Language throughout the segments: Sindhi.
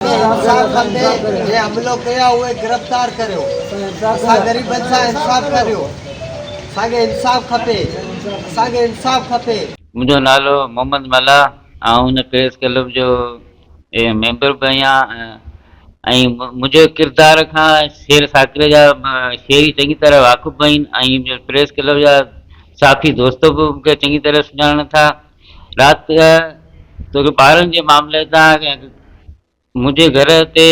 انصاف کپي جنهن حملو ڪيو آهي اهي گرفتار ڪريو اسان غريبن سان انصاف ڪريو اسان کي انصاف کپي اسان کي انصاف کپي. منهنجو نالو محمد ملاح آئون هن پريس ڪلب جو ميمبر به آهيان ۽ منهنجو ڪردار کان شير ساڪري جا شيري چڱي طرح واقف به آهن ۽ پريس ڪلب جا صحافي دوست به مون کي چڱي طرح سڃاڻن ٿا. رات توکي ٻارن جي معاملي تان منهنجي گهر تي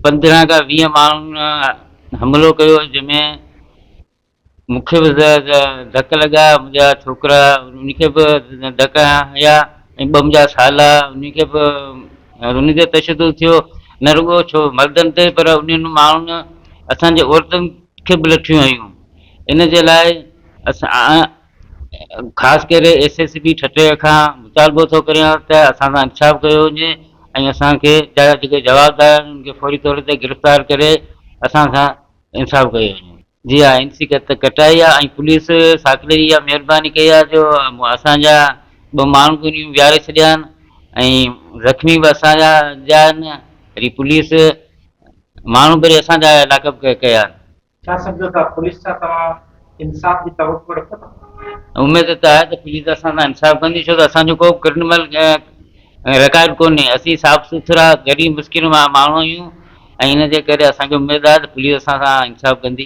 پندرهن کان ويهه ماڻهن حملو ڪيو جنهن ۾ مون کي به ڌڪ لڳا منهنجا ڇوڪرا ان کي به ڌڪ هنيا ۽ ٻه منهنجا سالا ان کي به انهن تي تشدد ٿيو نه رڳو ڇو مردن تي پر انهن ماڻهن اسان جي عورتن کي به لٺيون هنيون ان جي لاء اسان خاص ڪري ايس ايس پي ٺٽي کان مطالبو ٿو ڪريان ته اسان سان انصاف ڪيو وڃي ۽ اسان کي جا جيڪي جوابدار آهن انهن کي فوري طور تي گرفتار ڪري اسان سان انصاف ڪيو وڃي. جي ها اين سي ڪٽائي آهي ۽ پوليس ساکڙي اها مهرباني ڪئي آهي جو اسان جا ٻه ماڻهو به انهن ويهاري ڇڏيا آهن ۽ زخمي به اسان جا جا آهن وري پوليس ماڻهو به وري اسان جا لاڪ اپ ڪيا آهن ڇا سمجهو ٿا پوليس سان توهان انصاف جي توقع رکو ٿا؟ اميد ته آهي ته پوليس اسان سان انصاف ڪندي ڇو ته اسان جو ڪو به ڪرمنل رڪارڊ ڪونهي، اسين صاف سٿرا غريب مسڪين ماڻهو آهيون ۽ ان جي ڪري اسان کي اميد آهي ته پوليس اسان سان انصاف ڪندي.